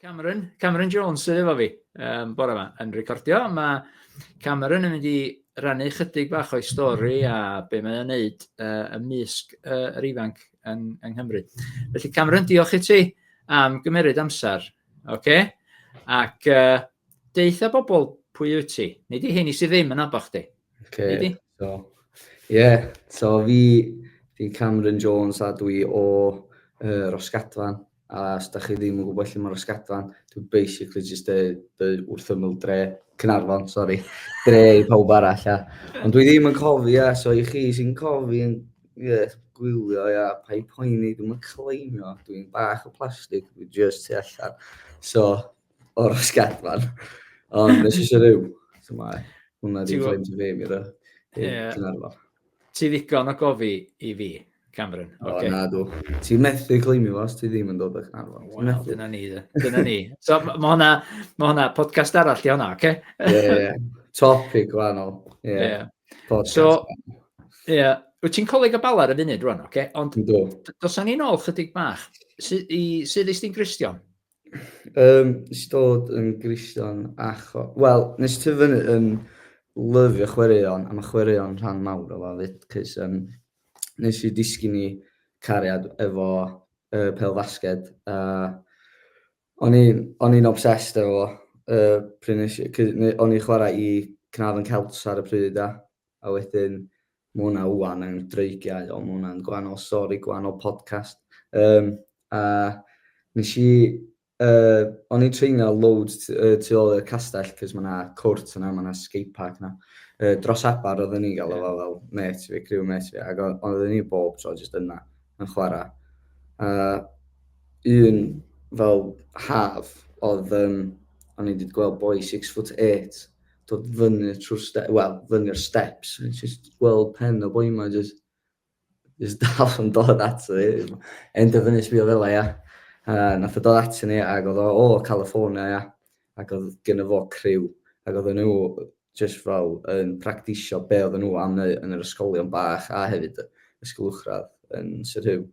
Cameron, Cameron Jones sydd efo fi um, bore yma yn recordio. Mae Cameron yn mynd i rannu chydig bach o'i stori a be mae'n ei wneud uh, y mysg uh, yr ifanc yn, yng Nghymru. Felly Cameron, diolch i ti am gymeryd amser. Okay? Ac uh, deitha bobl pwy wyt ti. Nid i hyn i sydd ddim yn abo chdi. Okay. So, yeah, so fi, fi Cameron Jones a dwi o uh, Rosgadfan. A os da chi ddim yn gwybod lle mae Rosgadfan, dwi basically just y, y wrth ymwyl dre, Cynarfon, sorry, dre i pawb arall. A. Ond dwi ddim yn cofi, a so i chi sy'n cofi yn yeah, gwylio, ia, yeah, pa i poeni, dwi'n yn claimio, dwi'n bach o plastig, dwi'n just tu allan. So, o'r sgatfan. Ond nes eisiau rhyw. So mae hwnna di flaen to fi, mi dda. Ti ddigon o gofi i fi, Cameron. O, okay. na dw. Ti methu cleimio fo os ti ddim yn dod o'ch arfon. Wel, dyna ni, dyna ni. So, mae hwnna, ma hwnna podcast arall i hwnna, oce? Okay? Ie, yeah, yeah. Topic gwahanol. Ie. Yeah. Yeah. Podcast. So, ie. Yeah. Wyt ti'n coleg o balar y funud rwan, oce? Okay? Ond, dos o'n i'n ôl chydig bach. Sydd i, sydd i stin gristion? Yym, nes i dod yn Gristion acho... Wel, nes i tyfu fyny yn lyfio chwaraeon, a mae chwaraeon rhan mawr o fo 'fyd, 'c'os yym nes i disgyn i cariad efo yy pêl-fasged a o'n i'n o'n i'n obsessed efo fo yy pryd nes i... 'c'os o'n i'n chwarae i Caernarfon Celts ar y pryd a A wedyn ma' hwnna ŵan yn dreigiau ond ma' hwnna'n gwahanol stori, gwahanol podcast. Yym a nes i yy o'n i'n treinio loads t- yy tu ôl i'r castell 'c'os ma' 'na cwrt yna, ma' 'na skate park 'na. Yy dros abar oedden ni'n galw fo fel mêt fi, criw mêt fi ag o- oedden ni bob tro jyst yna yn chwara. A un fel haf odd yym o'n i 'di gweld boi six foot eight dod fyny trwy'r steps, wel, fyny'r steps, a just gweld pen o boi ma, just, just dal yn dod ato fi. End o fyny sbio fel ia. A nath o dod ato ni, ac oedd o, o, California, ia. Ac oedd gen fo criw, ac oedd nhw just fel yn practisio be oedd nhw am neu yn yr ysgolion bach, a hefyd ysgol uchradd yn Sir Hyw,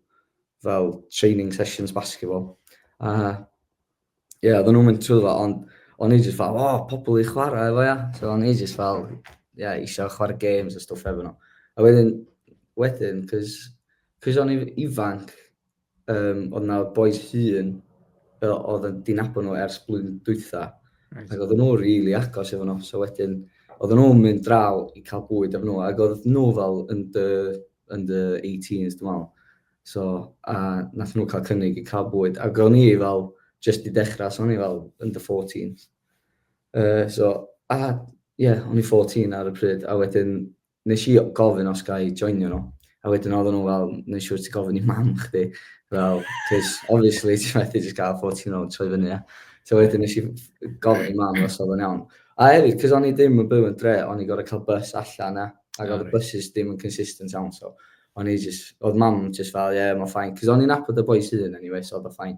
fel training sessions basketball. A Ie, oedden nhw'n mynd trwy fo, ond o'n i jyst fel, o, pobl i chwarae efo, ia. So o'n i jyst fel, ia, eisiau chwarae games a stwff efo nhw. A wedyn, wedyn, cys, cys o'n i ifanc, um, oedd na boys hun, oedd yn dinabod nhw ers blwyddyn dwytha. Right. Ac oedden nhw rili really agos efo nhw, so wedyn, oedden nhw'n mynd draw i cael bwyd efo nhw, ac oedd nhw fel yn dy, yn dy 18s, dwi'n meddwl. So, a nath nhw cael cynnig i cael bwyd. Ac o'n i fel, just i dechrau, so o'n i fel yn dy 14s. Uh, so, a, ie, yeah, o'n i 14 ar y pryd, a wedyn nes i gofyn os gael i joinio nhw. A wedyn oedden nhw fel, nes siwr ti gofyn i mam chdi. Fel, cys, obviously, ti methu just gael 14 o'n troi fyny, ia. So wedyn nes i gofyn i mam os oedd yn iawn. A hefyd, cys o'n i ddim yn byw yn dre, o'n i gorau cael bus allan, ia. Ac oedd y buses ddim yn consistent iawn, so o'n i jyst, oedd mam jyst fel, ie, yeah, mae'n ffain. Cos o'n i'n apod y boi sydd yn anyway, so oedd o ffain.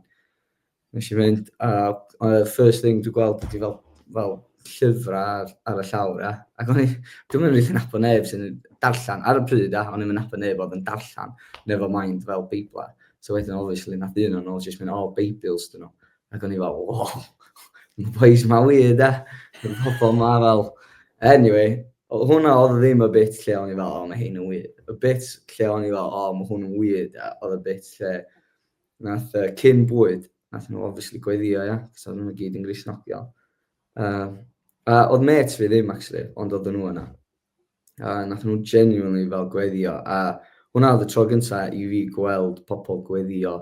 Nes i fynd, a uh, first thing dwi'n gweld ydi fel, fel llyfrau ar, ar y llawr, ia. Ac o'n i, dwi'n mynd rydyn apod neb sy'n darllen, ar y pryd, ia, o'n i'n mynd apod neb oedd yn darllen, never mind fel Beiblau. So wedyn, obviously, nath un o'n ôl jyst mynd, oh, Beibils, dyn nhw. Ac o'n i fel, o, mae boys ma wir, da. Mae pobl ma fel... Anyway, hwnna oedd ddim y bit lle o'n i fel, o, mae hyn yn wir. Y bit lle o'n i fel, o, mae hwn yn wir, da. Oedd y bit lle nath uh, cyn bwyd, nath nhw obviously gweithio, ia, cos oedd nhw'n gyd yn grisnogion. Uh, a oedd met fi ddim, actually, ond oedd nhw yna. A nath nhw genuinely fel gweithio, a hwnna oedd y tro gyntaf i fi gweld pobl gweithio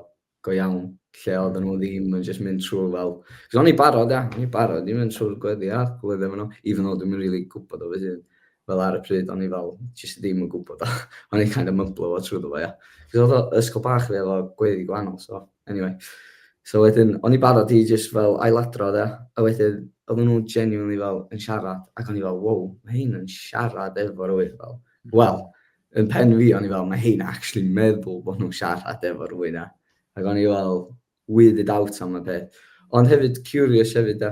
go iawn, lle oedden nhw ddim yn just mynd trwy fel... Cos o'n i barod, ia, o'n i barod i mynd trwy'r gweddi a gweddi efo nhw, even though dwi'n really gwybod o fy hun. Fel ar y pryd, o'n i fel, just ddim yn gwybod o. o'n i kind of mymblo fo trwy ddo, ia. Cos oedd o ysgol bach fi, oedd o gweddi gwahanol, so, anyway. So wedyn, o'n i barod i just fel ailadrodd, ia. A wedyn, oedden nhw genuinely fel yn siarad, ac o'n i fel, wow, mae hyn yn siarad efo rwy'n fel, wel, Yn pen fi, o'n i fel, mae hein actually'n meddwl bod nhw'n siarad efo rhywun a, ac o'n i fel, weirded out am y peth. Ond hefyd, curious hefyd da.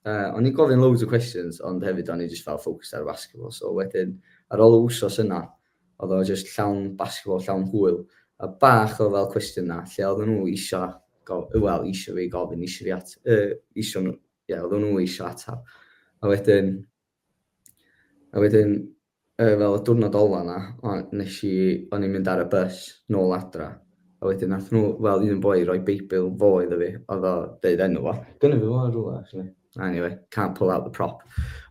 Uh, o'n i'n gofyn loads o questions, ond hefyd o'n i just fel focused ar basketball. So wedyn, ar ôl y wsos yna, oedd o just llawn basketball, llawn hwyl, a bach o fel cwestiwn na, lle oedd nhw isio, wel, isio fi gofyn, isio fi at, uh, isio nhw, ie, yeah, oedd nhw isio atab. A wedyn, A wedyn, yy, fel y diwrnod ola 'na, o- nes i, o'n i'n mynd ar y bus nôl adra, a wedyn nath nhw, fel un boi roi Beibl fo iddo fi, oedd o deud enw fo. Gynna fi fo yn rhywle, actually. Anyway, can't pull out the prop.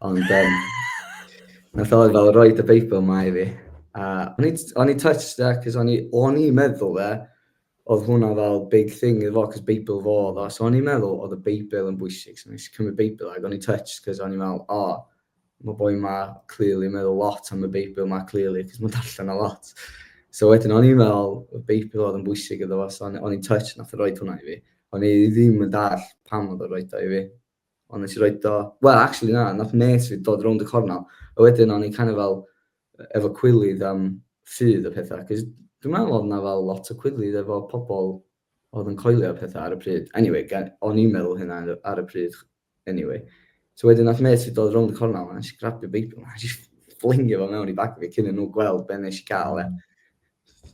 Ond, um, nath o fel roi y Beibl ma i fi. A o'n i, o'n i touched, cos o'n i, o'n i meddwl fe, oedd hwnna fel big thing iddo fo, cos Beibl fo oedd o, so o'n i'n meddwl oedd y Beibl yn bwysig, so nes i cymryd Beibl ac o'n i'n touched, cos o'n i'n meddwl, o, oh, mae boi ma clearly yn meddwl lot am y Beibl ma clearly, cos mae'n darllen o lot. So wedyn o'n i'n meddwl, y Beibl oedd yn bwysig iddo fo, so o'n i'n touched nath o roed hwnna i fi. O'n i ddim yn dall pam oedd o roed o i fi, Ond nes i roi do... Wel, actually na, nath nes fi dod rownd y cornel. A wedyn o'n i kind of fel efo cwilydd am ffydd y pethau. Cos dwi'n meddwl oedd yna fel lot o cwilydd efo pobl oedd yn coelio y pethau ar y pryd. Anyway, o'n i'n meddwl hynna ar y pryd. Anyway. So wedyn nath nes fi dod rownd y cornel a nes i grabio Beibl. A nes i fflingio fo mewn i bag fi cyn i nhw gweld be nes i gael e.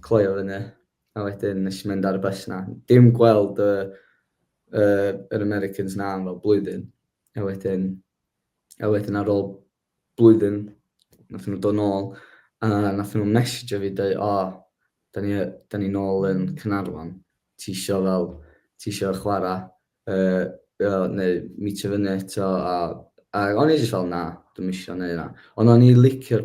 Cloio fyny. A wedyn nes i mynd ar y bus na. Dim gweld y yy yr Americans 'na am fel blwyddyn, a wedyn a wedyn ar ôl blwyddyn nathon nhw dod nôl a nathon nhw messejo fi deu' o 'dan ni yy 'dan ni nôl yn Caernarfon ti isio fel ti isio chwara yy yy neu meetio fyny eto a a o'n i jyst fel na dwi'm isio neu' ynna. Ond o'n i licio'r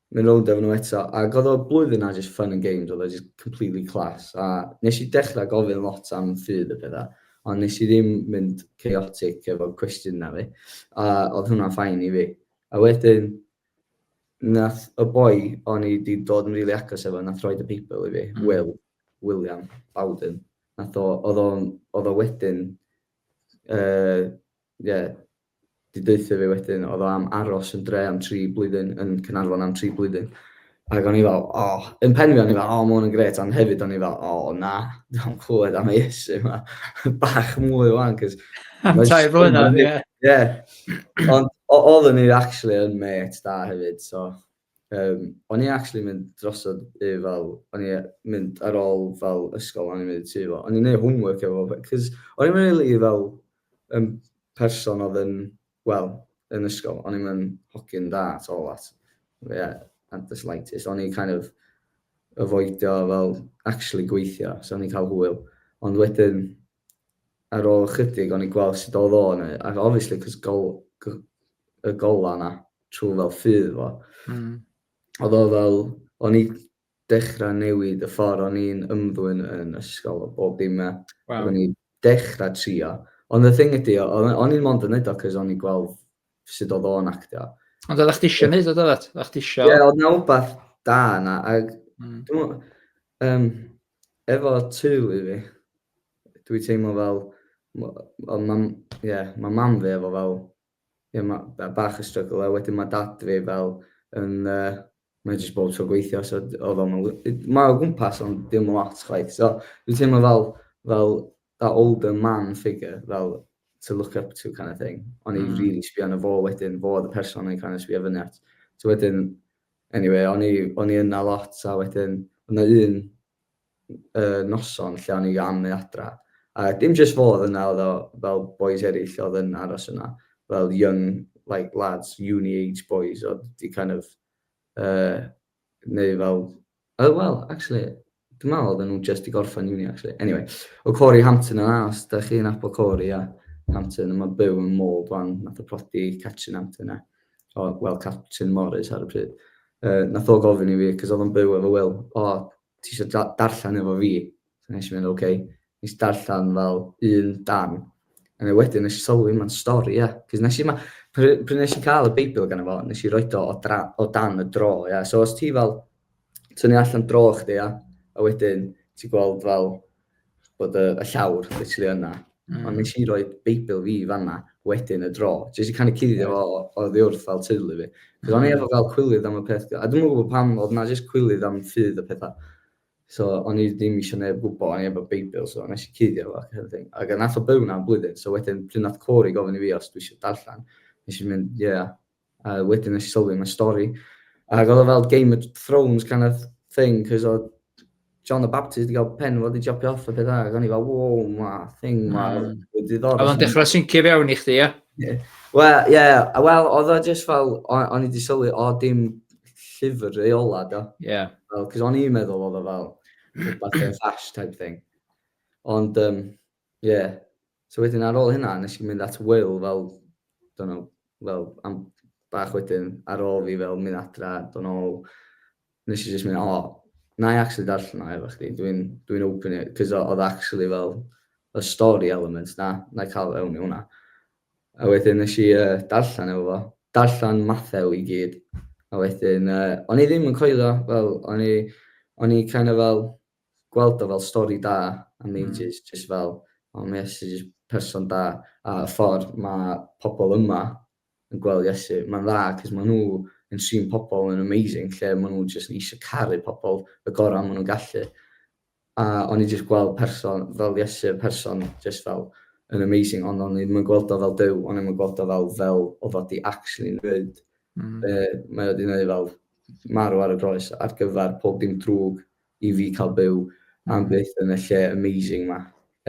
Manylion nhw eto, ac oedd o blwyddyn a jyst fun and games, oedd o jyst completely class, a nes i dechrau gofyn lot am ffydd a pethau, ond nes i ddim mynd chaotic efo'r cwestiwn na fi, a oedd hwnna'n ffain i fi. A wedyn, nath y boi o'n i wedi dod yn rili agos efo, nath roi y Beibl i fi, mm. Will, William Bowden, nath o, oedd o, oedd o wedyn, uh, yeah, 'di deutha fi wedyn oedd o am aros yn dre am tri blwyddyn, yn Caernarfon am tri blwyddyn. Ac o'n i fel, o, oh. yn pen fi o'n i fel, o, oh, mae hwn yn gret, ond hefyd o'n i fel, o, oh, na, dwi'n clywed am ei esu yma, bach mwy o'n, cys... Am tai flynedd, ie. Ie. Ond oedden ni actually yn met da hefyd, so... Yym o'n i actually mynd drosodd i fel o'n i mynd ar ôl fel ysgol o'n i'n mynd i tŷ fo o'n i'n neud homework efo fo b- cos o'n i'm rili fel yn person odd yn wel yn ysgol o'n i'm yn hogyn da at all at ie at the slightest o'n i kind of avoidio fel actually gweithio so o'n i'n ca'l hwyl ond wedyn ar ôl ychydig o'n i'n gweld sut oedd o'n ei, ac obviously cos gol, y gola yna, trwy fel ffydd fo. Mm. Oedd o fel, o'n i dechrau newid y ffordd o'n i'n ymddwyn yn ysgol o bob dim e. Wow. O'n i'n dechrau trio. Ond y thing ydi, o'n i'n mond yn neud o cos o'n i'n gweld sut oedd o'n actio. Ond oedd chdi eisiau neud o, oedd chdi eisiau... Ie, oedd na wbath da yna, ac... Mm. Um, Efo teulu fi, dwi teimlo fel, wel ma, ie, ma mam fi efo fel, ie, ma, bach o struggle, a wedyn ma dad fi fel yn, yy, mae jyst bob tro gweithio, so d- oedd o'm yn l-... Mae o gwmpas ond ddim yn lot chwaith, so dwi'n teimlo fel fel that older man figure, fel to look up to kind of thing. O'n i rili sbio arno fo wedyn, fo oedd y person o'n i'n kind of sbio fyny at. So wedyn, Eniwe, o'n i, o'n i yna lot a wedyn oedd 'na un yy noson lle o'n i am mynd adra a dim jyst fo oedd yna oedd o fel bois eraill oedd yn aros yna fel young like lads, uni age bois oedd 'di kind of yy neu fel yy wel actually Dwi'n meddwl oedden nhw jyst i gorffen uni actually. Anyway, o Corey Hampton yn as, da chi'n apol Corey a Hampton, yma byw yn môl fan, nath o prodi Catrin Hampton e. O, wel, Catrin Morris ar y pryd. Uh, nath o gofyn i fi, cos oedd o'n byw efo Will, o, ti eisiau da darllen efo fi? So nes i mynd, oce. Okay. Nes darllen fel un dan. A neu wedyn nes i sylwi mae'n stori, ia. Yeah. Cos nes i ma, pryd nes i cael y Beibl gan efo, nes i roed o o, o dan y dro, ia. Yeah. So os ti fel Ti'n ni allan dro chdi, ia? A wedyn, ti'n gweld fel bod y, y llawr literally yna. Mm. Ond nes i roi Beibl fi fanna wedyn y dro. Jyst i canu cuddio fo o ddiwrth fel teulu fi. Cos o'n i efo fel cwilydd am y peth. A dwi'n gwybod pam, oedd na jyst cwilydd am ffydd y pethau. So, o'n i ddim eisiau neb gwybod, o'n i efo Beibl, so nes i cuddio fo ac everything. Ac nath o byw na blwyddyn, so wedyn pryd nath Corey gofyn i fi os dwi eisiau darllen, nes i'n mynd, ie, yeah, A wedyn nes i sylwi mae stori. Ac oedd o fel Game of Thrones kind of thing, cos oedd John the Baptist wedi cael pen fo wedi jopio off a pethau, ac o'n i fel, wow, ma, thing ma, mm. wedi ddod. Oedd o'n dechrau syncio fewn i chdi, ia? Wel, ie, wel, oedd o just fel, o'n i wedi sylwi, o dim llyfr reola, do. Ie. Yeah. Fel, cos o'n i'n meddwl oedd o fel, rhywbeth yn fast type thing. Ond, um, Ie. So wedyn ar ôl hynna, nes i mynd at Wil fel, don't know, fel am bach wedyn, ar ôl fi fel mynd adra, dod nôl, nes i jyst mynd, o, na i actually darllen o efo chdi, dwi'n dwi open it, cos oedd actually fel y story element na, na i cael ewn i hwnna. A wedyn nes i uh, darllen efo fo, darllen Mathew i gyd, a wedyn, uh, o'n i ddim yn coelio, fel, o'n i, o'n i kind of fel, gweld o fel stori da am ages, mm. jyst fel, o mae Iesu jyst person da, a y ffordd mae pobl yma yn gweld Iesu, mae'n dda, cos maen nhw yn trin pobl yn amazing, lle maen nhw jyst eisiau caru pobl y gorau maen nhw'n gallu. A o'n i jyst gweld person fel Iesu, person jyst fel yn amazing, ond o'n i ddim yn gweld o fel dyw, o'n i ddim yn gweld o fel fel o fod i actually wneud. Mm. Be mae wedi gwneud fel marw ar y groes ar gyfer pob dim drwg i fi cael byw am byth yn y lle amazing ma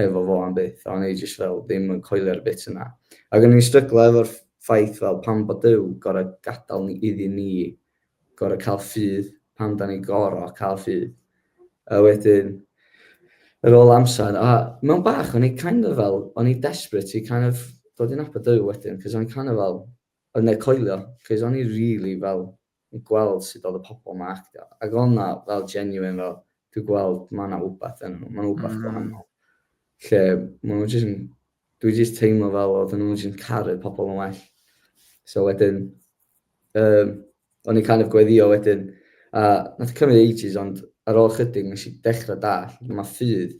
efo fo am byth a o'n i jyst fel ddim yn coelio'r bit yna ac o'n i'n stryglo efo'r ffaith fel pam bod Duw gorau gadael ni iddi ni gorau cael ffydd pam da ni gorau cael ffydd a wedyn yr ôl amser a mewn bach o'n i kind of fel o'n i desperate i kind of dod i'n nabod Duw wedyn cos o'n i kind of fel yn ne coelio cos o'n i really fel yn gweld sut oedd y pobl ma actio, ac oedd na fel genuine fel, dwi'n gweld ma na wbath yn nhw, ma na wbath gwahanol. Lle ma nhw jyst yn, dwi jyst teimlo fel oedd nhw jyst yn caru pobl yn well. So wedyn, um, o'n i kind of gweddio wedyn, a nath cymryd ages ond ar ôl chydig nes i dechrau dall, mae ffydd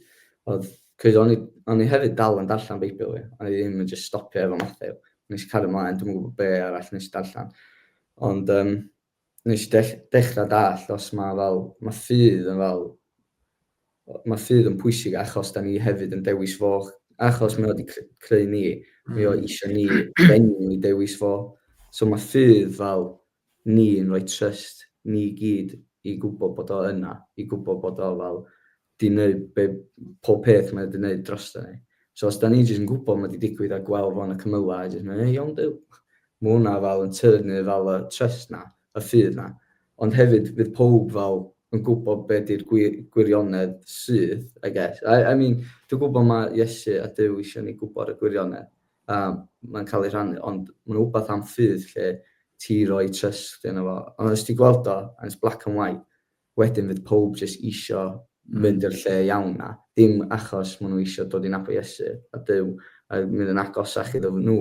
oedd, cwyd o'n i, o'n i hefyd dal yn darllen Beibl fi, o'n i ddim yn just stopio efo Matthew, nes i cario mlaen, dwi'n gwybod be arall nes i darllen. Ond um, nes i dech dechrau dall os mae fel, mae ffydd yn fel, mae ffydd yn pwysig achos da ni hefyd yn dewis fo, achos mae o wedi creu ni, mm. mae o hmm. eisiau ni, dengwn ni dewis fo. So mae ffydd fel ni yn rhoi trust ni gyd i gwybod bod o yna, i gwybod bod o fel 'di neud be- pob peth mae o 'di neud drosta ni. So os 'dan ni jyst yn gwbod ma' 'di digwydd a gwel' fo yn y cymyla' a jyst myn' yy iawn Duw. Ma' wnna fel yn tyrnu fel y trust 'na, y ffydd 'na. Ond hefyd fydd powb fel yn gwbod be' 'di'r gwi- gwirionedd sydd, I guess. I I mean dwi gwbo ma' Iesu a Duw isio ni gwbod y gwirionedd a ma'n ca'l ei rhannu ond ma' 'na wbath am ffydd lle ti roi trust yno fo. Ond os ti'n gweld o and it's black and white Wedyn fydd powb jyst isio mynd i'r lle iawn 'na, dim achos maen nhw isio dod i nabod Iesu a Duw a mynd yn agosach iddo nhw,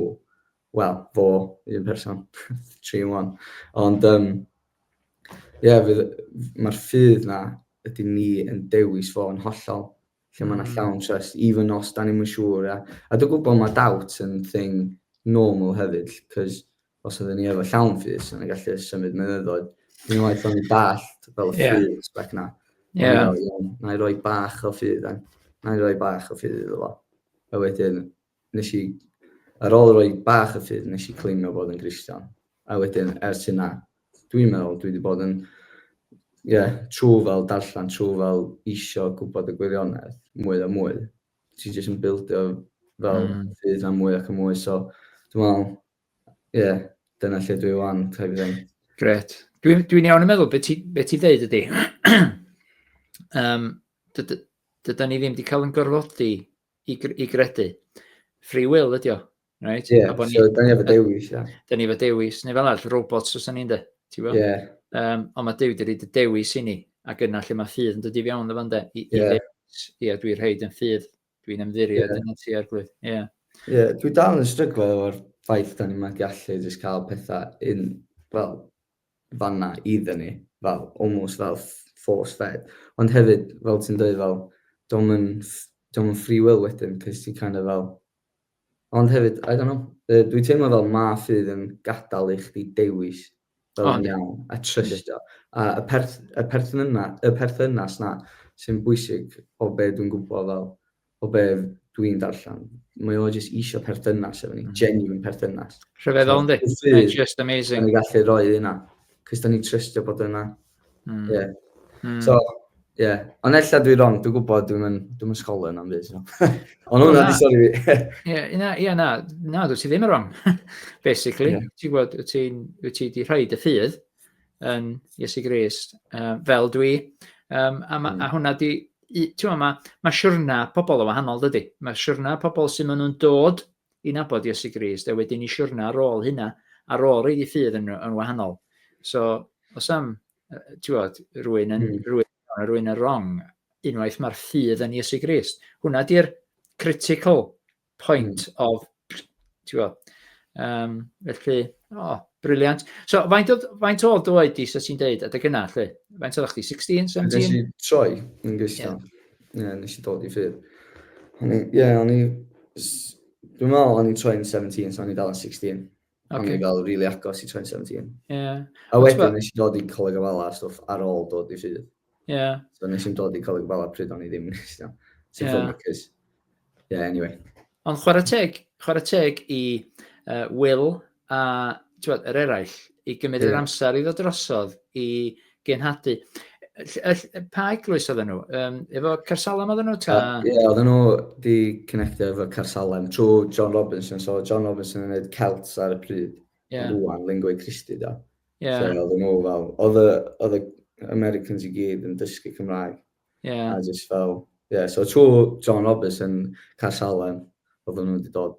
wel, fo, un person, tri yn one. Ond um, ie, yeah, mae'r ffydd 'na ydy ni yn dewis fo yn hollol. lle mae yna hmm. llawn trust, even os da ni'n mynd siŵr. A, a dwi'n gwybod mae doubt yn thing normal hefyd, cos os ydyn ni efo llawn ffys, yna gallu symud mynyddoedd. Dwi'n waith o'n i dallt fel y yeah. ffys bec na. Yeah. Na i roi bach o ffydd, na i roi bach o ffydd iddo fo. A wedyn, nes i, ar ôl rhoi bach o ffydd, nes i claimio bod yn Gristion. A wedyn, ers hynna, dwi'n meddwl, dwi wedi bod yn, ie, yeah, trwy fel darllen, trwy fel isio gwybod y gwirionedd, mwy a mwy. Ti jyst yn bildio fel mm. ffydd am mwy ac am mwy, so dwi'n meddwl, ie, yeah, dyna lle dwi wan, type of thing. Gret. Dwi'n dwi iawn yn meddwl beth ti, be ti ddeud ydy. um, dydy, dydy ni ddim wedi cael yn gorfodi i, i gredu. Free will ydi o. Right? Yeah, ni, so da ni efo dewis. Yeah. Da ni efo dewis, neu fel arall, robots os da ni'n de. Yeah. Um, ond mae Dewi wedi rhaid y dewis i ni, ac yna lle mae ffydd yn dod i fiawn efo de. I, yeah. i dewis, ia, dwi'n rhaid yn ffydd, dwi'n ymddirio, yeah. dyna ti ar glwydd. Ie. Yeah. Yeah, dwi dal yn stryglo efo'r ffaith da ni'n magu allu jyst cael pethau un, wel, fan'na i dynnu fel almost fel force fed ond hefyd fel ti'n dweud fel dio'm yn dio'm yn free will wedyn cos ti kind of fel ond hefyd I don't know yy dwi'n teimlo fel ma' ffydd yn gadal i chdi dewis fel yn iawn a trystio a y perth- y perthyn- y perthynas 'na sy'n bwysig o be' dwi'n gwbo fel o be dwi'n darllen, mae o jyst isio perthynas efo ni, mm. genuine perthynas. Rhyfeddol yndi? Mae'n just amazing. Mae'n gallu rhoi hynna, cys da ni'n trystio bod yna. Mm. Yeah. Mm. So, ie. Yeah. Ond ella dwi wrong, dwi'n gwybod dwi'n yn, dwi yn sgol yna am byd. So. Ond hwnna di sori fi. Ie, na, ie, na, na, dwi ti ddim yn wrong, basically. Yeah. Ti'n gwybod, wyt ti'n, wyt ti di rhaid y ffydd, yn Iesu Grist, uh, fel dwi. Um, a, ma, mm. a hmm. hwnna di, ti'n ma, mae siwrna pobl o wahanol, dydy. Mae siwrna pobl sy'n maen nhw'n dod i nabod Iesu Grist, a wedyn i siwrna ar ôl hynna, ar ôl ei ffydd yn, yn wahanol. So, os am, ti'n bod, rwy'n yn, mm. rwy'n, rwy'n yn wrong, unwaith mae'r ffydd yn Iesu Grist. Hwna di'r critical point of, ti'n gwybod, um, felly, o, oh, briliant. So, faint oedd, faint oedd dy oed di, so ti'n deud, adeg yna, lle? Faint oedd chdi, 16, 17? Nes i troi yn gystal. Ie, yeah. nes i dod i ffyr. Ie, yeah, o'n i... Dwi'n meddwl o'n i troi'n 17, so o'n i dal yn 16. Pan o'n i fel rili agos i Troi'n Seventeen. Ie. A wedyn nes i dod i Coleg Ofala a stwff ar ôl dod i Rhydd. Ie. So nes i'n dod i Coleg Ofala pryd o'n i ddim yn eistedd. Sy'n ffyn acus. Ie, anyway. Ond chwarae teg, chwarae teg i uh, Will a yr eraill i gymryd yr amser i ddod drosodd i Genhadu. Pa eglwys oedden nhw? Um, efo Carsalem oedden nhw? Ta... Uh, yeah, oedden nhw di connectio efo Carsalem trwy John Robinson. So John Robinson yn gwneud Celts ar y pryd. Yeah. Rwan, Lingua Christi da. Yeah. So oedden nhw fel, oedd y Americans i gyd yn dysgu Cymraeg. Yeah. A just fel, yeah, so trwy John Robinson, Carsalem, oedden nhw wedi dod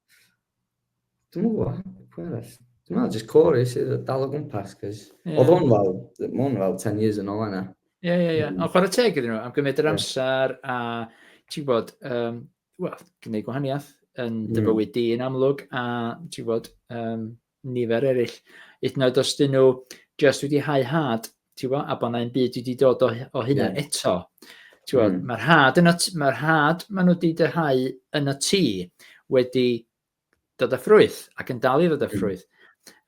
Dwi'n gwybod, pwy arall? Dwi'n meddwl, jyst Corey sydd yn dal o gwmpas, cys... Yeah. Oedd hwn fel, mae hwn fel 10 years yn ôl yna. Ie, ie, ie. Mm. Ond chwarae teg iddyn nhw, am gymryd yr amser, a ti'n gwybod, um, wel, gwneud gwahaniaeth yn dy mm. bywyd di yn amlwg, a ti'n gwybod, um, nifer eraill. Hyd yn oed os dyn nhw jyst wedi hau had, ti'n gwybod, a bod yna un byd wedi dod o, o hynna mm. eto. Ti'n gwybod, mm. mae'r had, yn y, mae'r had maen nhw wedi dyhau yn y tŷ wedi dod â ffrwyth ac yn dal i ddod â hmm. ffrwyth.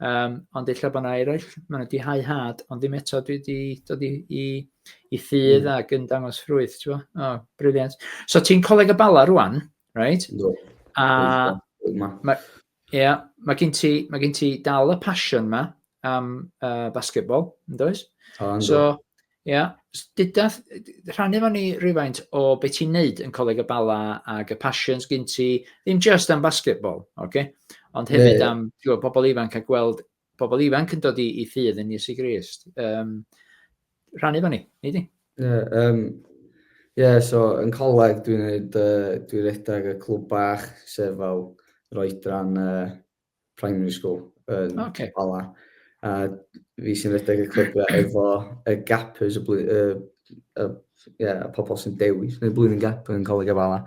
Um, ond eich bod yna eraill, maen nhw wedi hau had, ond ddim eto dwi wedi dod i, i, i ffydd mm. ac yn dangos ffrwyth, ti'n gwybod? O, oh, briliant. So ti'n coleg y bala rwan, right? Do. A... Mae Ie, yeah, mae gen ti, mae gen ti dal y passion ma am uh, basketball, yn does? O, yn so, ie, yeah, dyda, rhannu fo ni rhywfaint o beth ti'n neud yn Coleg y Bala ac y passions gen ti, ddim just am basketball, oce? Okay? Ond hefyd yeah. am you know, pobl ifanc a gweld Pobl ifanc yn dod i, i ffydd yn Iesu Grist. Um, rhannu fan ni, nid i? Ie, yeah, um, yeah, so yn coleg dwi'n neud, uh, dwi'n redag y clwb bach, sef fel roedran uh, primary school yn um, okay. Bala. A fi sy'n redag y clwb efo y gappers, y, blwy, uh, y, yeah, y pobl sy'n dewis, neu blwyddyn gap yn coleg y Bala.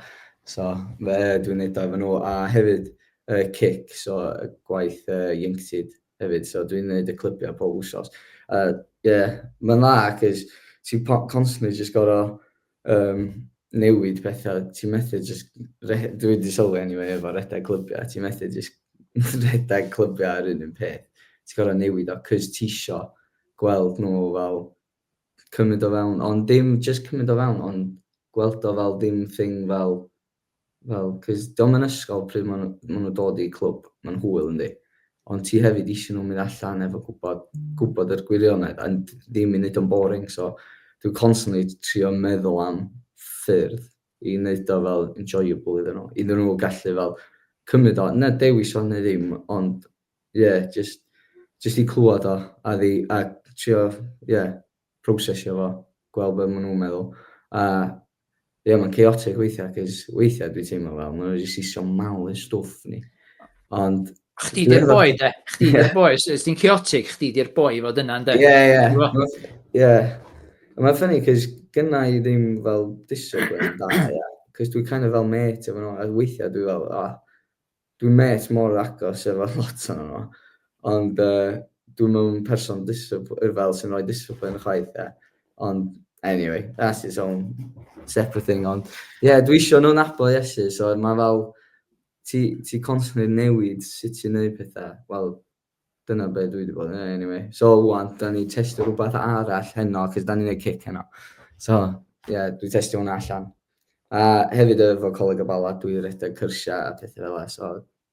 So, fe dwi'n neud o efo nhw. A hefyd, y cic, so y gwaith yy ieuenctid hefyd, so dwi'n neud y clybiau pob wsos. A ie, mae'n dda, cos ti'n constantly jyst gor'o' yym newid pethau, ti'n methu jyst re- dwi wedi sylwi anyway efo rhedeg clybiau, ti'n methu jyst rhedeg clybiau yr un un peth, ti'n gor'o' newid o, cos tisio gweld nhw fel cymryd o fewn, ond dim jyst cymryd o fewn, ond gweld o fel dim thing fel Wel, cos dio'm yn ysgol pryd ma' nhw ma' nhw'n dod i clwb, ma'n hwyl yndi? Ond ti hefyd isio nhw mynd allan efo gwbod gwbod yr gwirionedd a ddim i neud o'n boring so dwi'n constantly trio meddwl am ffyrdd i neud o fel enjoyable iddyn nhw, iddyn nhw gallu fel cymryd o, na dewis o neu ddim ond ie jyst jyst i clywad o a ddi- a trio ie prosesio fo, gweld be ma' nhw'n meddwl, a ie ma'n chaotic weithiau, cys weithiau dwi'n teimlo fel, maen nhw wedi sisio mawl i'n stwff ni. Ond... Chdi di'r boi, de. Chdi di'r boi. Os ti'n chaotic, chdi di'r boi fod yna, de. Ie, ie. Ie. Mae'n ffynnu, cys gynna i ddim fel disygwyl da, ie. Cys dwi'n kind of fel met efo nhw, a weithiau dwi fel, ah, Dwi'n mêt mor agos efo lot ohonon nhw, ond yy dwi'm yn person discipl- yy fel sy'n rhoi discipline chwaith ie. Ond anyway, that's its own separate thing ond ie yeah, dwi isio nhw'n nabod Iesu so mae fel ti ti constantly newid sut ti'n neud pethau. Wel, Dyna be dwi wedi bod yn ei anyway. So, wan, da ni testio rhywbeth arall heno, cys da ni'n ei cic heno. So, ie, yeah, dwi testio hwnna allan. A uh, hefyd efo Coleg y Bala, dwi redeg cyrsiau a pethau fel e. So,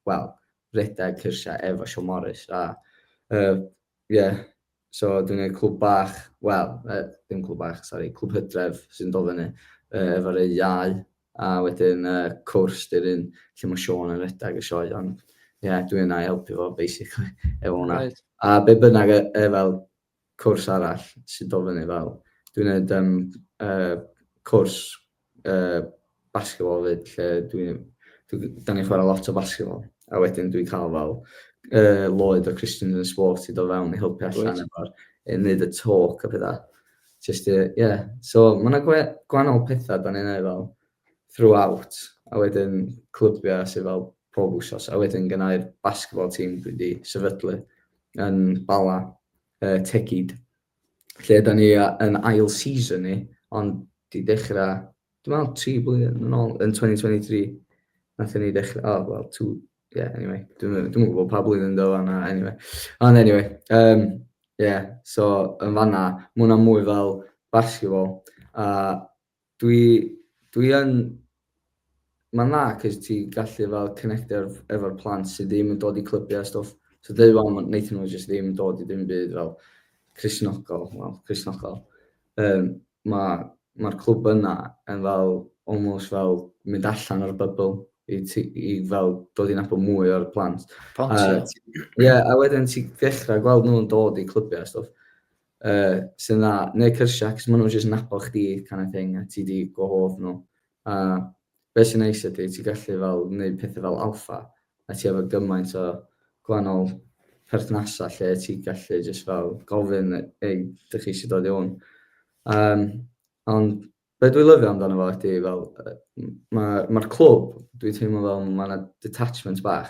wel, redeg cyrsiau efo Sean Morris. A, ie, uh, yeah, So dwi'n gwneud clwb bach, wel, uh, dim clwb bach, sori, clwb hydref sy'n dod fyny uh, efo'r ei iau, a wedyn uh, cwrs dy'r un lle mae Sean yn redag y sioe, ond ie, yeah, dwi yna i helpu fo, basically, efo hwnna. Right. A be bynnag e, e fel cwrs arall sy'n dod fyny fel, dwi'n gwneud um, uh, cwrs uh, basketball fyd, lle dwi'n... Dwi, da ni'n chwarae lot o basketball. A wedyn dwi'n cael fel uh, Lloyd o Christians and Sport i dod fewn i helpu allan right. efo'r i wneud y talk a pethau. Just, uh, yeah. So, mae yna gwe, gwahanol pethau da ni'n ei fel throughout. A wedyn clybiau sydd fel pob wsos. A wedyn gynnau'r basketball team dwi wedi sefydlu yn Bala, uh, Tegid. lle da ni yn ail season ni, ond di dechrau, dwi'n meddwl, tri blwyddyn yn ôl, yn 2023, nath ni dechrau, oh, well, two, yeah, anyway, dwi'n dwi gwybod pa blwyddyn do fanna, anyway. Ond anyway, um, yeah, so yn fanna, mae hwnna mwy fel basketball, a Dwi, dwi yn, mae'n dda cys ti gallu fel connectio efo'r plant sydd ddim yn dod i clybiau a stwff. So dweud wan, wnaethon nhw jyst ddim yn dod i ddim byd fel Crisnogol, wel, Crisnogol. Um, Mae'r ma, ma clwb yna yn fel, almost fel mynd allan o'r bybl i, ti, i fel dod i'n apod mwy o'r plant. Ie, uh, yeah, a wedyn ti ddechrau gweld nhw'n dod i clybiau a stwff. uh, sydd yna, neu cyrsiau, cos maen nhw'n just nabod chdi kind of thing, a ti di gwahodd nhw. A beth sy'n neis ydy, ti gallu fel wneud pethau fel alfa, a ti efo gymaint o gwahanol perthnasau lle ti gallu just fel gofyn, ei, dych chi eisiau dod i hwn. Um, ond Be dwi'n lyfio amdano fo ydi fel yy ma' ma'r clwb dwi'n teimlo fel ma' 'na detachment bach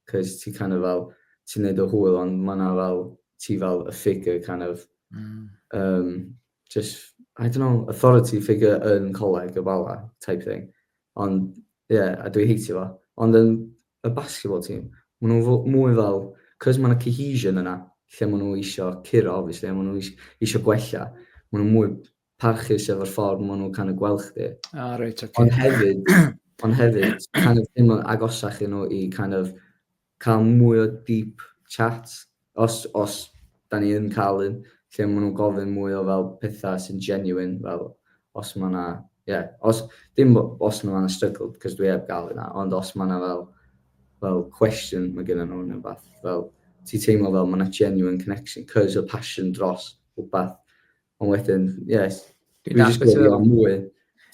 'c'os ti kind of fel ti'n neud dy hwyl ond ma' 'na fel ti fel y figure kind of hmm. um, just I don't know authority figure yn coleg y bala type thing ond ie yeah, a dwi heitio fo ond yn y basketball team ma' nhw mwy fel 'c'os ma' 'na cohesion yna lle ma' nhw eisiau curo obviously a ma' nhw eisiau gwella ma' nhw mwy parchus efo'r ffordd maen nhw'n kind of gweld chdi. Ah, reit, oce. Ond hefyd, ond hefyd, kind of teimlo'n agosach i nhw i kind of cael mwy o deep chat, os, os da ni yn cael un, lle maen nhw'n gofyn mwy o fel pethau sy'n genuine, fel os mae yna, ie, yeah, os, dim bo- os mae yna struggle, cos dwi heb gael yna, ond os mae yna fel, fel question mae gen nhw neu beth, fel, ti teimlo fel mae yna genuine connection, cos y passion dros rhywbeth, Ond wedyn, yes, dwi wedi sgwyd i o mwy.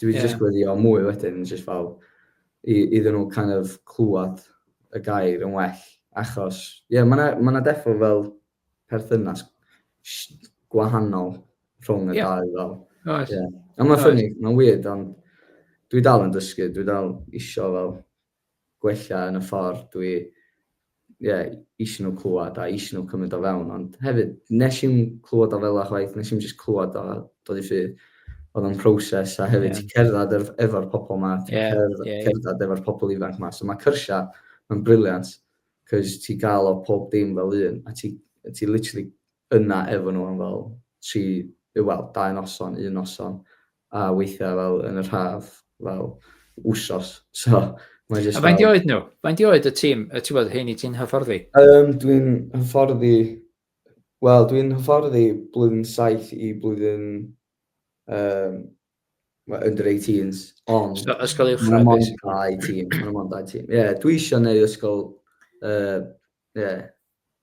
Dwi wedi sgwyd i o mwy wedyn, yn just fel, iddyn nhw kind of clywed y gair yn well. Achos, ie, yeah, mae yna defo fel perthynas gwahanol rhwng y yeah. dau fel. Oes. Yeah. Ond mae'n ffynnu, mae'n weird, ond dwi dal yn dysgu, dwi dal isio fel gwella yn y ffordd dwi ie isio nhw clywed a isio nhw cymryd o fewn ond hefyd nes i'm clywed o fel yna chwaith nes i'm jyst clywed o a dod i ffydd oedd o'n proses a hefyd yeah. ti'n cerdded efo'r efo pobl yma ti'n yeah, cerdded, yeah, cerdded yeah. efo'r pobl ifanc yma so mae cyrsiau yn briliant cys ti gael o pob dim fel un a ti, ti literally yna efo nhw am fel tri, wel, dau noson, un noson a weithiau fel yn yr haf, fel wsos. So, mae jyst... A faint i oed nhw? Faint i oed y tîm, y ti'n bod, hyn i ti'n hyfforddi? Um, dwi'n hyfforddi... Wel, dwi'n hyfforddi blwyddyn 7 i blwyddyn... Um, under 18s, ond... So, ysgol i'w chrefus? Mae'n dau tîm, mae'n dau tîm. Ie, yeah, dwi eisiau neud ysgol... Uh, yeah,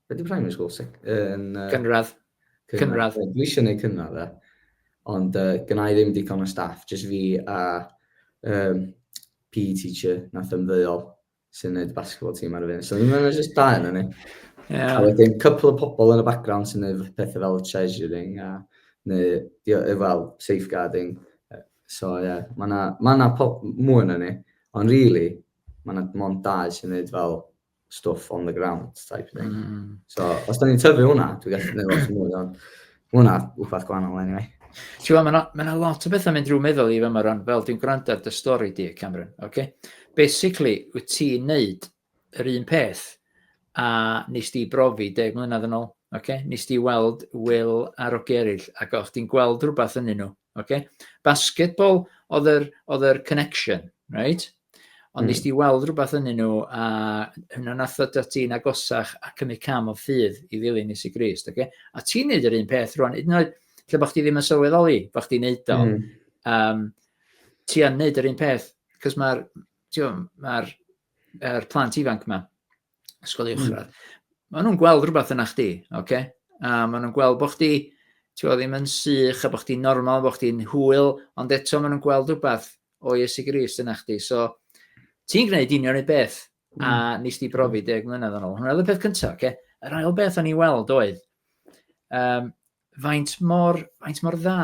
Be di primary school? Sec, yn, uh, cynradd. cynradd. Cynradd. Dwi eisiau gwneud cynradd e. Ond uh, gyna i ddim digon o staff, jyst fi a um, PE teacher nath ymddeol sy'n gwneud basketball team ar y fyn. So ddim yn just da yna ni. Yeah. A wedyn, cwpl o pobl yn y background sy'n gwneud pethau fel treasuring a neu, fel safeguarding. So, ie, yeah, mae yna ma, na pop mwy yna ni. Ond, really, mae yna mond dau sy'n gwneud fel stuff on the ground type thing. Mm. So, os da ni'n tyfu hwnna, dwi'n gallu gwneud lot mwy o'n... Hwnna, wbeth gwahanol anyway. Ti'n gwybod, mae yna lot o bethau mynd drwy meddwl i fe yma rhan, fel dwi'n gwrando ar dy stori di, Cameron, oce? Okay? Basically, wyt ti'n neud yr un peth a nes di brofi deg mlynedd yn ôl, oce? Okay? Nes di weld Will ar o gerill ac o'ch ti'n gweld rhywbeth yn nhw, oce? Okay? Basketball oedd yr, oedd yr connection, right? Ond mm. nes di weld rhywbeth yn nhw, a hynna nath o da ti'n agosach a cymryd cam o ffydd i ddilyn Iesu Grist, okay? A ti'n neud yr un peth rwan, hyd yn oed lle bod chdi ddim yn sylweddoli bod chdi'n neud o, mm. um, ti yn neud yr un peth, cos mae'r ma, er plant ifanc yma, ysgol uwchradd, mm. maen nhw'n gweld rhywbeth yna chdi, oce? Okay? A maen nhw'n gweld bod chdi, ti'n ddim yn sych, a bod chdi'n normal, bod chdi'n hwyl, ond eto maen nhw'n gweld rhywbeth o Iesu Gris yna chdi. So, ti'n gwneud union ei beth, mm. a hmm. nes di brofi deg mlynedd yn ôl. Hwna oedd y peth cyntaf, oce? Okay? Yr ail beth o'n i weld oedd, um, faint mor, faint mor dda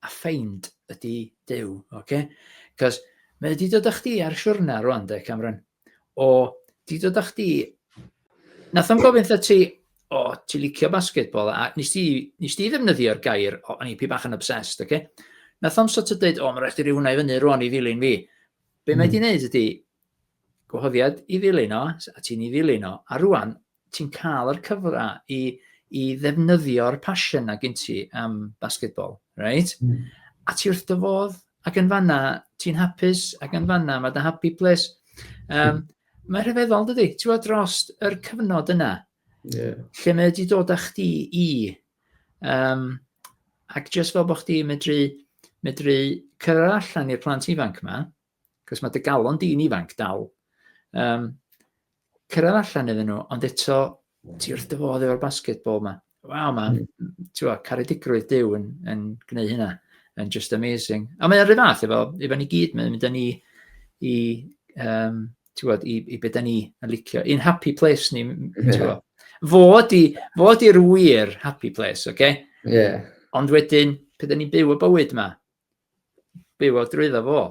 a ffeind ydi Duw, oce? Cos mae wedi dod â chdi ar siwrna rwan, de, Cameron. O, di dod â chdi... Nath o'n gofyn wrtha ti, o, ti licio basketball, a nes ti, nes ti ddefnyddio'r gair, o, o'n i pi bach yn obsessed, oce? Okay? Nath o'n sort o dweud, o, mae'n rhaid i rhyw hwnna i fyny rwan i ddilyn fi. Be mm. mae hmm. di'n neud ydy, gwahoddiad i ddilyn o, a ti'n i ddilyn o, a rwan, ti'n cael yr cyfle i, i ddefnyddio'r passion a gyn ti am basketball, right? Mm. A ti wrth dy fodd, ac yn fanna, ti'n hapus, ac yn fanna, mae dy happy place. Um, mae rhyfeddol, dydy, ti'n fawr dros yr cyfnod yna, yeah. lle mae wedi dod â chdi i, um, ac jyst fel bod chdi medru, medru cyrra allan i'r plant ifanc yma, Cos mae dy galon di'n ifanc dal. Um, cyrraedd allan iddyn nhw, ond eto, ti wrth dy fodd efo'r basketball yma. Waw, mae, mm. ti'n gwybod, caredigrwydd Dyw yn, yn gwneud hynna, yn just amazing. A mae'n rhyw fath efo, efo ni gyd, mae'n mynd â ni i, um, ti'n gwybod, i, i beth ni yn licio. I'n happy place ni, ti'n gwybod. Fod i, fod i'r wir happy place, oce? Okay? Yeah. Ond wedyn, pe da ni'n byw y bywyd yma, bywio drwyddo fo.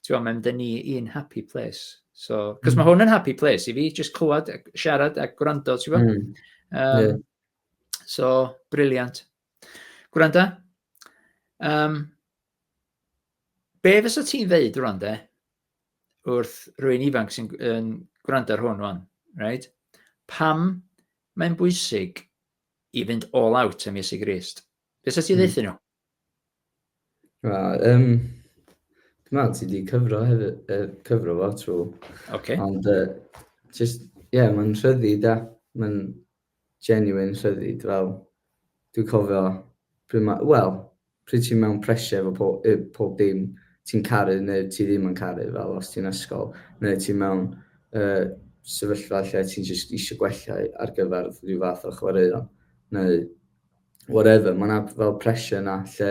Ti'n gwbod, mae'n mynd â ni i'n happy place. So, cos mae mm. hwn yn happy place i fi, jyst clywed, siarad a gwrando, ti'n gwbod? Mm. Um, yeah. So, briliant. Gwranda, um, be fysa ti'n ddeud rwan de, wrth rwy'n ifanc sy'n yn gwrando ar hwn rwan, right? Pam mae'n bwysig i fynd all out am Iesu Grist? Be sa ti'n mm. ddeud nhw? Na, um, dwi'n meddwl ti wedi cyfro hefyd, uh, cyfro fo trwy. Okay. Ond, uh, just, ie, yeah, mae'n rhyddi da. Mae'n genuine rhyddi, fel, dwi'n cofio, pryd mae, wel, pryd ti'n mewn pressure efo pob, pob dim, ti'n caru neu ti ddim yn caru, fel os ti'n ysgol, neu ti'n mewn uh, sefyllfa lle ti'n just eisiau gwella ar gyfer rhyw fath o chwaraeon, neu whatever, mae yna fel pressure yna lle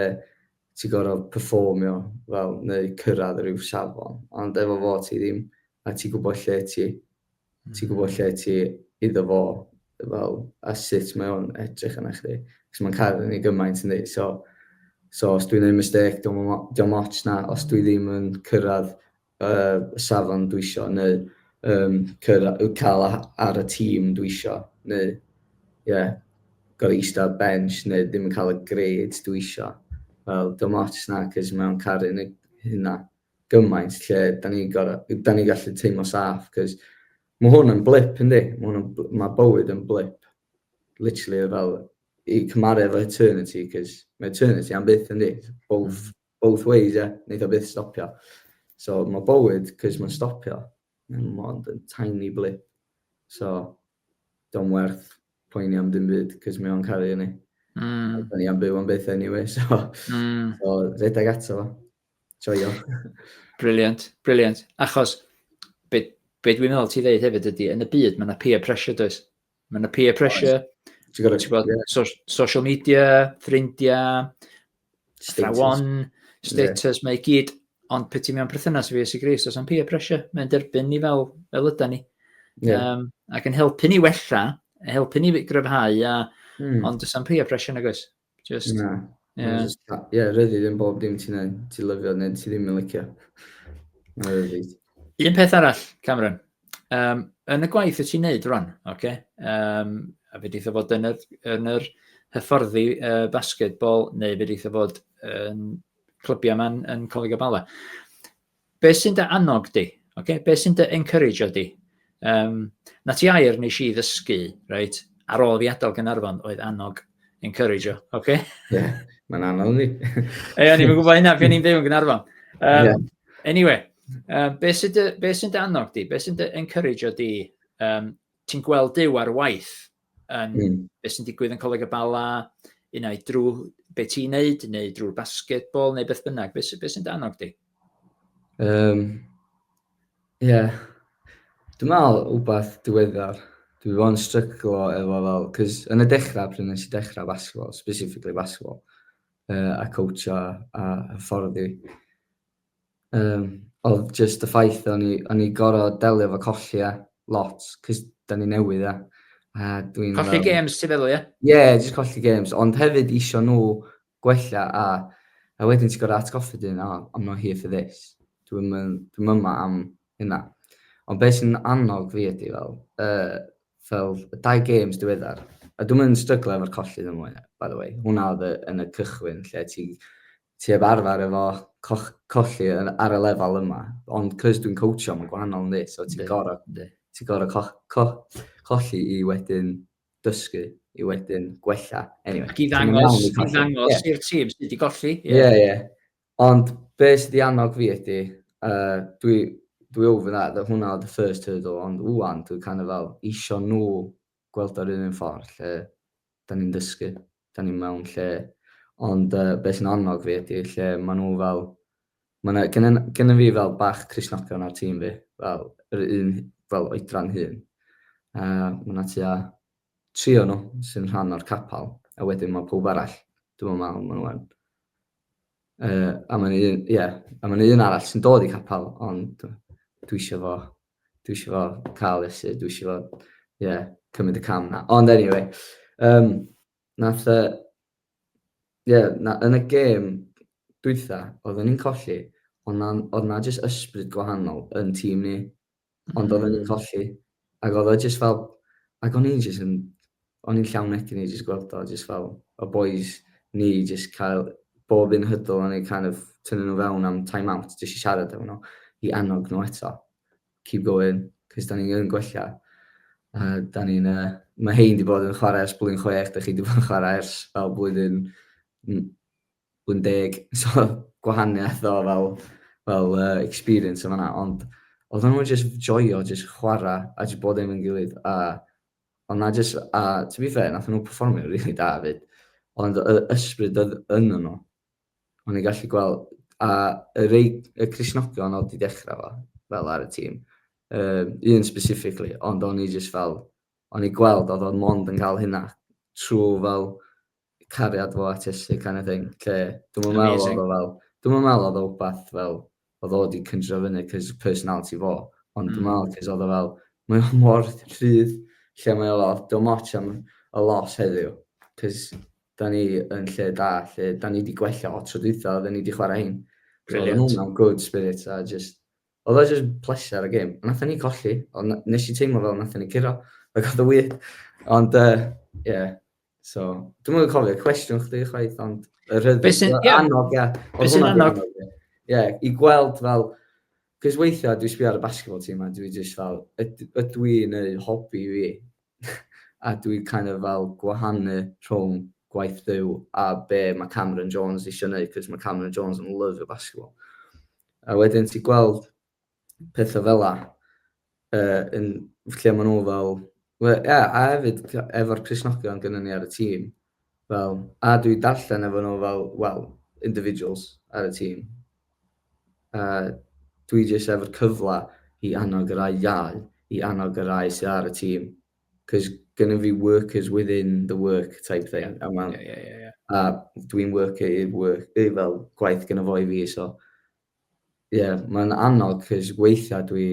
ti'n gorfod performio fel, neu cyrraedd rhyw safon. Ond efo fo ti ddim, a ti'n gwybod lle ti, mm. ti'n gwybod lle ti iddo fo, fel, a sut mae o'n edrych yna chdi. Cos mae'n cael yn ei gymaint yn ei, so, so os dwi'n ei mistake, diolch yn ots na, os dwi ddim yn cyrraedd y safon dwisio neu yym cyr- yy ca'l a- ar y tîm dwisio neu ie gor'o' ista ar bench neu ddim yn ca'l y grades dwisio. Wel dim ots na 'c'os mewn caru neu hynna gymaint lle 'dan ni gor'o' yy 'dan ni gallu teimlo saff 'c'os ma' hwn yn blip yndi? Ma' hwn yn bl- ma' bywyd yn blip. Literally fel i cymaru efo eternity 'c'os ma' eternity am byth yndi? Both Both ways ie? Neith o byth stopio. So ma' bywyd, 'c'os ma'n stopio, mae o mond yn tiny blip. So, 'di o'm werth poeni am dim byd, 'c'os mae o'n caru ni. Mm. A 'da ni am byw am byth anyway, so... Mm. So, rhedeg ato fo. Joio. Brilliant, brilliant. Achos, be, be dwi'n meddwl ti ddeud hefyd ydy, yn y byd mae yna peer pressure does? Mae yna peer pressure. Ti'n gwybod, ti'n gwybod, so, social media, ffrindiau, athrawon, status, yeah. mae gyd, ond pe ti mewn perthynas i fi, sy'n gris, os am peer pressure, mae'n derbyn ni fel, fel yda ni. Yeah. Um, ac yn helpu ni wella, helpu ni gryfhau, a, mm. ond os am peer pressure nag oes. Just... Na. Ie. Ie, ryddi ddim bob dim ti'n neud, ti'n lyfio neu ti ddim yn licio. Na ryddi. Un peth arall, Cameron. Um, yn y gwaith y ti'n neud rwan, oce? Okay? Um, a fe ddeitha fod yn yr, yn yr hyfforddi uh, basketball neu fe ddeitha fod yn clybiau yma yn, yn Coleg y Bala. Be sy'n dy annog di? Okay? Be sy'n dy encourage di? Um, na ti air nes i ddysgu, right? ar ôl fi adael Gynarfon oedd annog encourage o, oce? Okay? Ie, yeah, mae'n anodd ni. Ie, ni'n gwybod hynna pan ni'n byw yn Gynarfon. Um, yeah. Anyway, um, be sy'n dy, be sy'n dy annog di? Be sy'n dy encourage o di? Um, ti'n gweld Dyw ar waith, yn mm. beth sy'n digwydd yn Coleg y Bala, un ai drwy beth ti'n neud, neu drwy'r basketball, neu beth bynnag. Beth, beth sy'n danog di? Um, yeah. Dwi'n meddwl wbath diweddar. Dwi wedi bod yn stryglo efo fel, cys yn y dechrau, pryd nes i dechrau basketball, specifically basketball, uh, a coach a, a hyfforddi, Um, oedd just y ffaith o'n i, o'n i goro delio fo colli e lot, cys da ni newydd e. A dwi'n... Colli um, games ti feddwl, ie? Ie, yeah, just colli games, ond hefyd isio nhw gwella a, a wedyn ti'n gorau atgoffa dyn, oh, I'm not here for this. Dwi'n dwi yma am hynna. Ond beth sy'n annog fi ydy fel, uh, fel y dau games diweddar, a dwi'n mynd yn stryglo efo'r colli ddim mwy, by the way. Hwna oedd yn y cychwyn lle ti Ti heb arfer efo coch- colli yn ar y lefel yma ond 'c'os dwi'n coatsio ma'n gwahanol yndi? So ti'n goro ti'n goro co- co- colli i wedyn dysgu i wedyn gwella eniwe. Ac i ddangos i ddangos i'r tîm sut i golli. Ie ie. Ond be' sy 'di annog fi ydi yy dwi dwi over that hwnna oedd y first hurdle ond ŵan dwi kind of fel isio nhw gweld o'r un un ffordd lle 'dan ni'n dysgu. da ni mewn lle, ond uh, beth sy'n annog fi ydy lle maen nhw fel, maen nhw, gen, gen fi fel bach Crisnogion ar tîm fi, fel yr un fel oedran hun. Uh, mae yna tua tri o'n nhw sy'n rhan o'r capel, a wedyn mae pob arall, dwi'n meddwl maen nhw'n. Uh, a mae'n un, ie, yeah, a mae'n un arall sy'n dod i capel, ond dwi eisiau fo dwi eisiau fo cael esyd, dwi eisiau fo, ie, yeah, cymryd y cam na. Ond anyway, um, nath, uh, yeah, na, yn y gêm dwytha, oedden ni'n colli, ond na, oedd na jyst ysbryd gwahanol yn tîm ni, ond oedden ni'n mm. colli, ac oedd o jyst fel, ac o'n i'n jyst yn, O'n i'n llawn egni i jyst gweld o, jyst fel y bois ni jyst cael bob un hydl o'n i'n kind of tynnu nhw fewn am time out, jyst i siarad efo nhw, i annog nhw eto. Keep going, cys da ni'n gwella. A da ni'n, uh, mae hein di bod yn chwarae ers blwyddyn chwech, da chi di bod yn chwarae ers fel blwyddyn, blwyddyn deg, so gwahaniaeth o fel, fel uh, experience yma na, ond oedd nhw'n just joio, just chwarae, a just bod efo'n gilydd, a Ond na jyst, a to be fair, nath nhw performio rili really da fyd. Ond y ysbryd oedd yn nhw. Ond i'n gallu gweld, a y rei, y Crisnogion oedd di dechrau fo, fel ar y tîm. Um, un specifically, ond o'n i jyst fel, o'n i gweld oedd o'n mond yn cael hynna trwy fel cariad fo at Iesu kind of thing, lle dwi'm yn meddwl oedd o fel, dwi'm yn meddwl oedd o wbath fel, oedd o wedi cyndro fyny cos personality fo, ond mm. dwi'n meddwl cos oedd o fel, mae o mor rhydd, lle mae o fel, dwi'n moch am y los heddiw, cos da ni yn lle da, lle da ni wedi gwella o tro dwytha, da ni wedi chwarae hyn. Brilliant. So, hwnna'n good spirit, a just, Oedd o jyst pleser y gêm. Nathon ni colli, ond nes i teimlo fel nathon ni curo. Like oedd o wir. Ond yy ie. So, dwi'm yn cofio cwestiwn chdi chwaith, ond y rhyddid Be' sy'n- ie. annog ia. Be' sy'n annog? Ie, i gweld fel cos weithiau dwi sbio ar y basketball team a dwi jyst fel yd- ydw i'n neud hobi fi? a dwi kind of fel gwahanu rhwng gwaith Duw a be mae Cameron Jones eisiau neud, cos mae Cameron Jones yn lyfio basketball. A wedyn ti gweld pethau fel la, uh, yn, lle maen nhw fel, well, yeah, a hefyd efo'r Crisnogion gyda ni ar y tîm, Fel, a dwi darllen efo nhw fel, wel, individuals ar y tîm. A dwi jyst efo'r cyfle i annog y rai iau, i annog y rai sydd ar y tîm. Cos gynnu fi workers within the work type thing. Yeah, a, yeah, yeah, yeah, yeah. a dwi'n worker i'r work, i fel gwaith gyda fo i fi, so... Ie, yeah, mae'n annog, cos weithiau dwi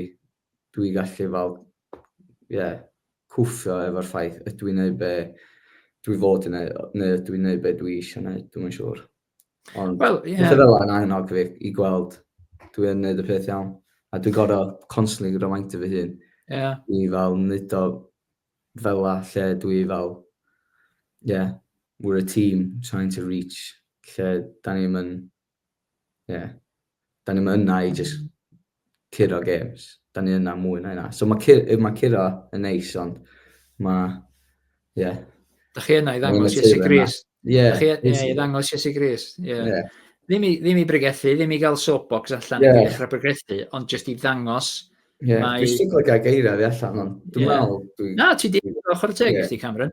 dwi gallu fel, ie, yeah, cwffio efo'r ffaith ydw i'n neud be dwi fod yn neud, neu ydw i'n neud be dwi eisiau neud, dwi'n yn siŵr. Ond well, yeah. pethau fel yna yn annog fi i gweld dwi yn neud y peth iawn. A dwi'n gorau constantly reminder fy hun. Yeah. I fel neud o fel la lle dwi fel, yeah, we're a team trying to reach lle da ni'n mynd ie, da ni'n yna i just curo games. Da ni'n yna mwy na yna. So mae ma curo yn neis, ond mae, ie. Yeah. Da chi yna i ddangos Iesu Gris. Ie. Da chi yna i ddangos Iesu Gris. Ie. Yeah. Yeah. Ddim, i, ddim i bregethu, ddim i gael soapbox allan yeah. i ddechrau bregethu, ond jyst i ddangos Yeah, mae... Dwi'n stiglo gael geiriau fi allan, ond dwi'n yeah. meddwl... Dwi... Na, ti di ochr teg yeah. i chdi, Cameron.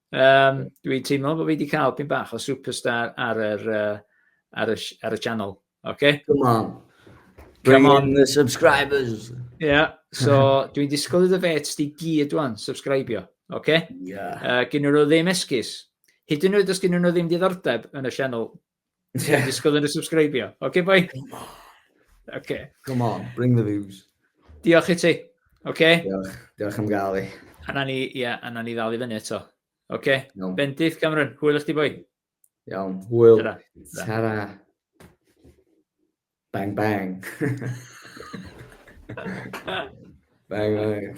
Um, dwi'n teimlo bod fi wedi cael pyn bach o superstar ar, yr, uh, ar, y, ar y channel. Okay? Come on. Bring Come on. in the subscribers. Yeah, so dwi'n disgwyl iddo fe ti gyd wan, subscribio. Okay? Yeah. Uh, gyn nhw ddim esgus. Hyd yn oed os gyn nhw ddim diddordeb yn y channel, Ti'n yeah. disgwyl yn y subscribio. Oce, okay, boi? Come on. Okay. Come on, bring the views. Diolch i ti. Oce? Okay? Diolch, diolch am gael i. A na ni, ia, yeah, a na ni ddal i fyny eto. Oce? Okay? No. Bendith, Cameron, hwyl eich di boi. Iawn, hwyl. Tara. Tara. Bang, bang. bang, bang.